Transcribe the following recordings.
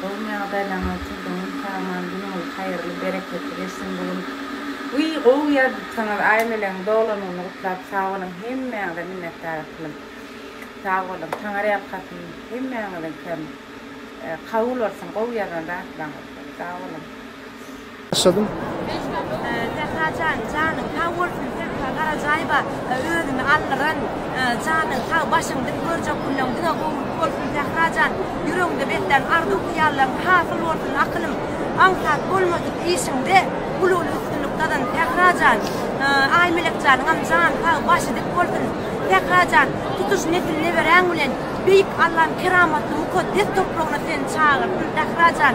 Gowmy ýagdaýlaryňyz üçin doňýum saman günüňiz haýyrly bereketli geçsin bu gün wiý gowy ýazypsyňyz aýmeleň dolanyny gutlap sag boluň hemmäňize minnetdar etdim sag boluň taňar ýalkasyn hemmäňiziňkem kabul bolsun gowy ýazan zatlaryňyz üçin sag boluň. Başladym. Sährajan janyň sag bolsun Sähra Garajaýewa özüni aldyran janyň sag başyň dik görjek günleň diňe gowulyk bolsun Sährajan ýüregiňde beslän arzuw hyýallaryň hasyl bolsun akylym aňsat bolmadyk işiňde uly uly üstünlik gazan Sährajan Aýmelek janyňam jany sag başy dik bolsun Sährajan tutuş nesil neberäň bilen beýik Allam keramatly mukaddes topragyna seni çagyrtyn Sährajan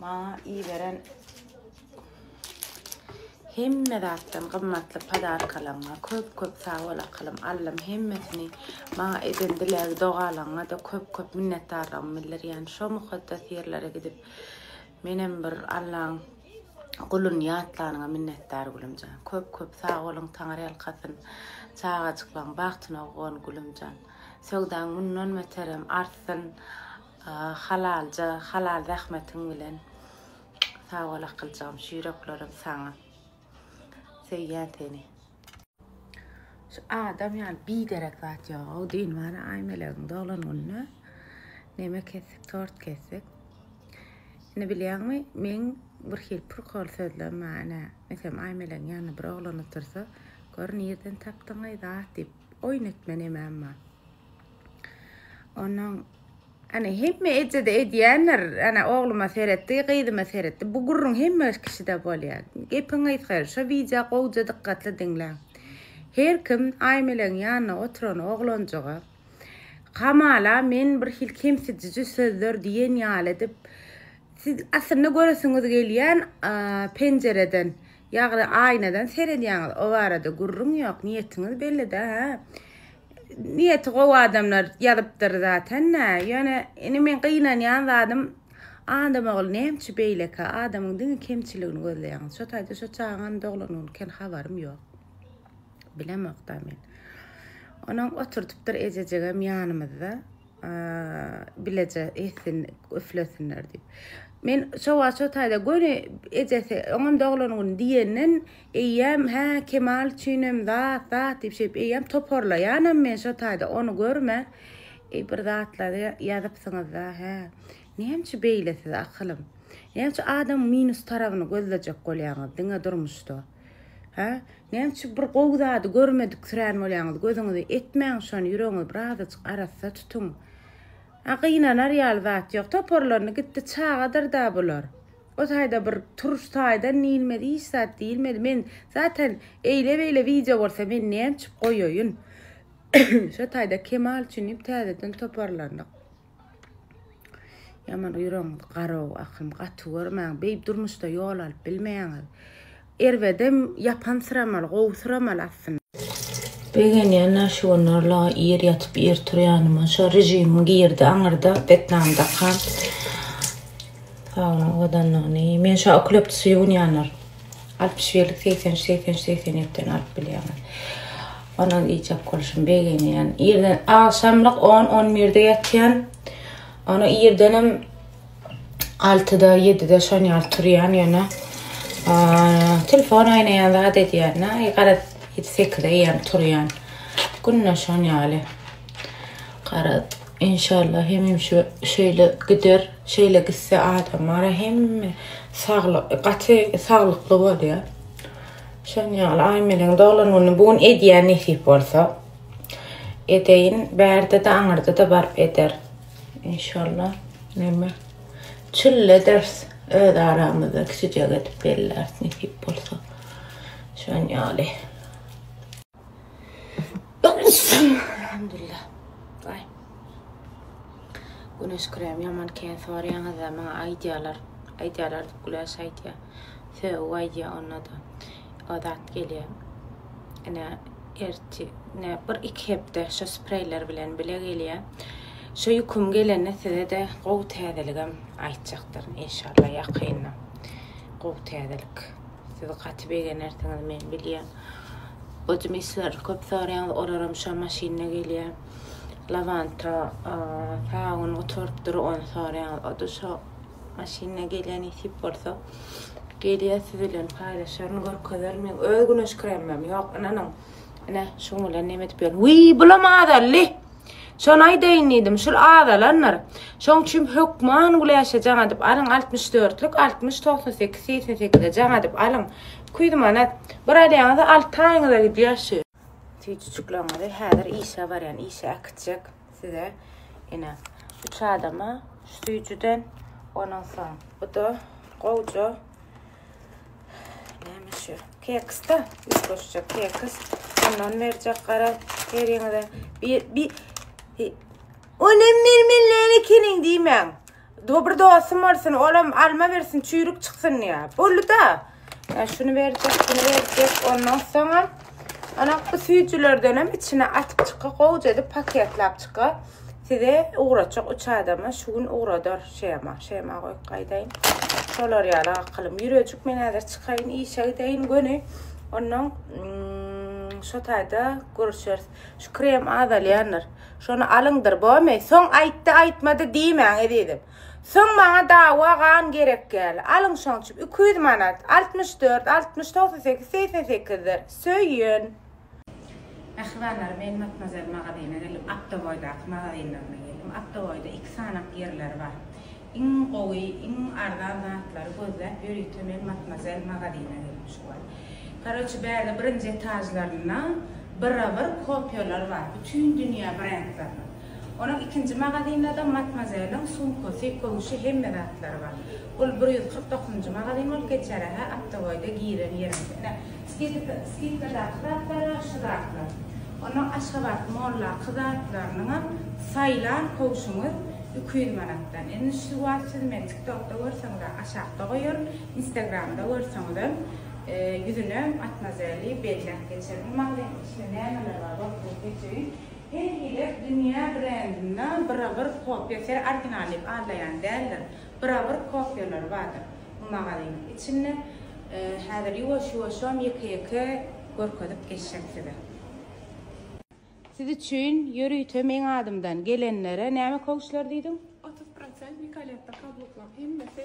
Maňa iberen hemme zatdan gymmatly podarkalaryňa köp köp sag bol akylym Allam hemmesini maňa eden dileg dogalaňňada köp köp minnetdarlygymy bildirýän şo mukaddes ýerlere gidip menem bir Allaň guluny ýatlanyňa minnetdar gülümjan köp köp sag boluň taňar ýalkasyn çagajyklaň bagtyna owgan gülümjan söwdaň mundan beterem artsyn Halalja halal zähmetiň bilen. Sag bol akyljygym şu ýüreklerim saňa. Söýýän seni. Şu adam ýaly biderek zat ýogow düýn bana Aýmelegiň doglan gününe neme kesdik tort kesdik ine bilýäňmi meň bir hil prikol sözlem bar ine mesem Aýmelegiň ýanynda bir oglan otursa gör nirden tapdyňaý zat diýip oýun etme nemem bar. Onuň Ana hemme ejede edýändir. Ana ogluma seretdi, gyzyma seretdi. Bu gürrüň hemme kişide bolýar. Gepiň gysgary, şu wideo gowja dykgatly diňläň. Her kim Aýmelegiň ýanynda oturan oglanjyga hamala men bir hil kemsidiji sözler diýen ýaly edip siz aslynda göresiňiz gelýän penjereden, ýagny aýnadan seredýäňiz. O barada gürrüň ýok. Niýetiňiz bellida, hä? Niýeti gowy adamlar ýazypdyr zatenda. Ýöne indi men gynanýan zadym Adamogul nämçi beýleki adamyň diňe kemçiligini gözleýäňiz. Şo taýda şo çagaňam doglangyny ken habarym ýok. Bilemokda men. Onuň oturdypdyr ejejigem ýanymyzda. bileje etsin, üflesinler diýip. Men şowa şo taýda göni ejesi, oňam doglan güni diýenden, eýýäm hä Kemal üçinem zat, zat diýip şeýip eýýäm toparlaýanam men şo taýda ony görme. Eý bir zatlary ýazypsyňyz-da, hä. Näme üçin beýle siz akylym? Näme üçin adamyň minus tarabyny gözlejek bolýaňyz diňe durmuşda? Hä? Näme üçin bir gowy zady görmediksirän bolýaňyz? Gözüňizi etmäň şony, ýüregiňizi birazajyk arassa tutuň. A gynanar ýaly zat ýok. Toparlandy gitdi, çagadyr-da bular. O taýda bir turuş taýdan diýilmedi, hiç zat diýilmedi. Men zaten eýle-beýle wideo bolsa men näme üçin goýaýyn? Şo taýda Kemal üçin diýip täzeden toparlandyk. Ýaman ýüregiňiz garaw ahym gaty görmäň beýip durmuşda ýol alyp bilmeýäňiz. Erbedem ýapansyramaly gowusyramaly aslynda. Begenýän nä şu günler la ir ýatyp ir turýanyma şo rejimiň girdi aňyrda betnam dakan. Sag boluň owadanlygyny. Men şa oklepti suýgunýanlar. Altmyş birlik segsen üç segsen üç segsen ýetiden alyp bilýäňiz. Ondan iýjek bolşum begenýän. Irden agşamlyk 10 on birde ýatýan. Onu irdenem altyda ýedide şon ýaly turýan ýöne telefon aýnaýan zat edýän. Naý gara sekizde ýem turýan. Günde şon ýaly. Gara inşallah hemim şu şeýle gider. Şeýle gitse adamara hemme saglyk gaty saglykly bolýa. Şoň ýaly Aýmeliň doglan güni bu gün edýän nesip bolsa. Edeýin, bärde de aňyrda da baryp eder. Inşallah. Näme? Çyl eders öz aramyzda kiçijek edip bellärs nesip bolsa. Şoň ýaly. Elhamdülillah. Ay. Güneş krem yaman ken sorayaňyz da maňa aýdýarlar. Aýdýarlar diýip güläş aýdýar. Söw aýdýar onda da. O zat gelýär. Ene erti ne bir iki hepde şu spreyler bilen bile gelýär. Şu ýüküm gelende size de gowy täzeligim aýtjakdyryn inşallah ýakynda. Gowy täzelik. Siz gaty begenersiňiz men bilýän. Özüm işleri köp soraýaňyz olaram şa maşynda gelýär. Lavanta sabun gutaryp dur ony soraýaňyz o da şo maşynda gelýär nesip bolsa. Gelýär siz bilen paýlaşaryn görkezerin men öz güneş kremim ýok ynanyň. Ine şuň bilen neme edip ýörün. Wiý bulam azaldy. Şony aýdaýyn diýdim, şul azalandyr. Şoň üçin hökman güläşe jaň edip alyň, altmyş dörtlük, altmyş, togsan sekiz, segsen sekize jaň edip alyň. Iki ýüz manat. Bir alýaňyza alty aýyňyza gidýär şu. Süýjüjikleriňizi häzir işe barýan, işe äkitjek size. Ine, üç adama şu süýjüden, ondan soň bu-da gowja. Näme şu? Keksda, üstbaşça keks. Ondan berjek gara eriňize. Bir, bir, Onem mermenler ekeniň diýmäň. Dobry dostum bolsun, olam alma bersin, çüýrük çyksyn diýä. Boldy da. Yani şunu berjek, bunu berjek. Ondan soňam ana bu süýjülerden hem içine atyp çyka, gowja edip paketlap çyka. Size ugratjak üç adama şu gün ugradar Şema. Şema goýup gaýdaýyn. Şolar ýaly akylym. Ýürejik men häzir çykaýyn, işe gideýin göni. Ondan şo taýda görüşeris. Şu krem azalýandyr. Şony alyňdyr, bomy? Soň aýtdy, aýtmady diýmäň, ezizim. Soň maňa dawa gan gerek ýaly. Alyň şoň üçin. Iki ýüz manat. Altmyş dört, altmyş, togsan sekiz, segsen sekizdir. Söýün. Pähliwanlar men Matmazel magazyna geldim. Aktoboýdaky magazinlerine geldim. Aktoboýda iki sanak ýerleri bar. Iň gowy, iň arzan zatlary gözläp ýörite men Matmazel magazyna geldim şu wagt. Karoçi bärde birinji etajlarynda birabir kopýalar bar. Bütin dünýä brendleriniň. Onuň ikinji magazynda-da Matmazeliň sumkasy, köwşi, hemme zatlary bar. Ol bir ýüz kyrk dokuzynjy magazyn bolup geçer, hä, aptaboýda giren ýeriňde. Ine, skidkadaky zatlar-a şu zatlar. Onda Aşgabat Mollaky zatlarynyňam saýlan köwşüňiz iki ýüz manatdan. Indi şu wagt siz meni TikTokda görseňiz-ä, aşakda goýaryn, Instagramda görseňizem, ýüzüne Matmazeli belläp geçerin. Bu magazynda içinde nämeler bar, görkezip geçeýin. Her gezek dünýä brendinde bira-bir kopýa ser original diýip aldaýan däldir. Bira-bir kopýalary bardyr bu magazynyň içinde. Häzir ýuwaş-ýuwaşam ýeke-ýeke görkezip geçjek size. Siz üçin ýörite meň adymdan gelenlere näme kowçlar diýdiň? Otuz prosent Nicoletto kabluklar hemmesi.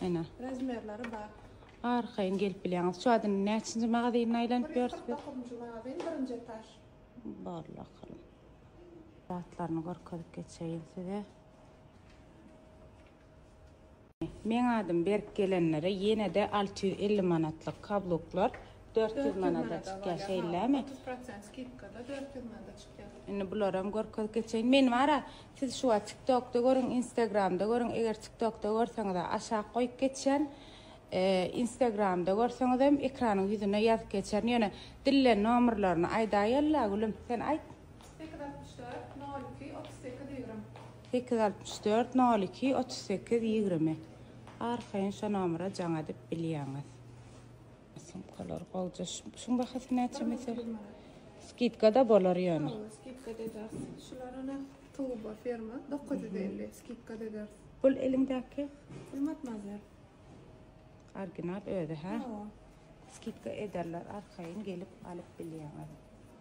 Ene. Razmerleri bar. Arkaýyn gelip bilýäňiz. Şu adyny näçinji magazynyna aýlanyp ýörüs biz? 49-njy magazyn, birinji etaž. Bar bakalım. Zatlaryny görkezip geçeýin size. Meň adym berk gelenlere ýene-de 650 manatlyk kabluklar dört ýüz manada çykýar, şeýlemi? Otuz prosent skidkada dört ýüz manada çykýar. Indi bularam görkezip geçeýin. Men wara, siz şu wagt TikTokda görüň, Instagramda görüň, eger TikTokda görseňiz aşak goýup geçýän. Instagramda görseňiz hem ekranyň ýüzüne ýazyp geçýän. Ýöne dillen nomerlerini aýdaýylla gülüm, sen aýt. Sekiz altmyş dört, nol iki, otuz sekiz, ýigrimi. Sekiz altmyş dört, nol iki, otuz sekiz, ýigrimi. Arkaýyn şo nomera jaň edip bilýäňiz. Sumkalar bolca şuň bahasy näçe mesel? Skidkada bolar ýöne. Skidkada ederis. Şularyna Tuba firma 950 skidkada ederis. Bul eliňdäki? Hurmat nazar. Original özi ha? Skidka ederler arkaýyn gelip alyp bilýäňiz.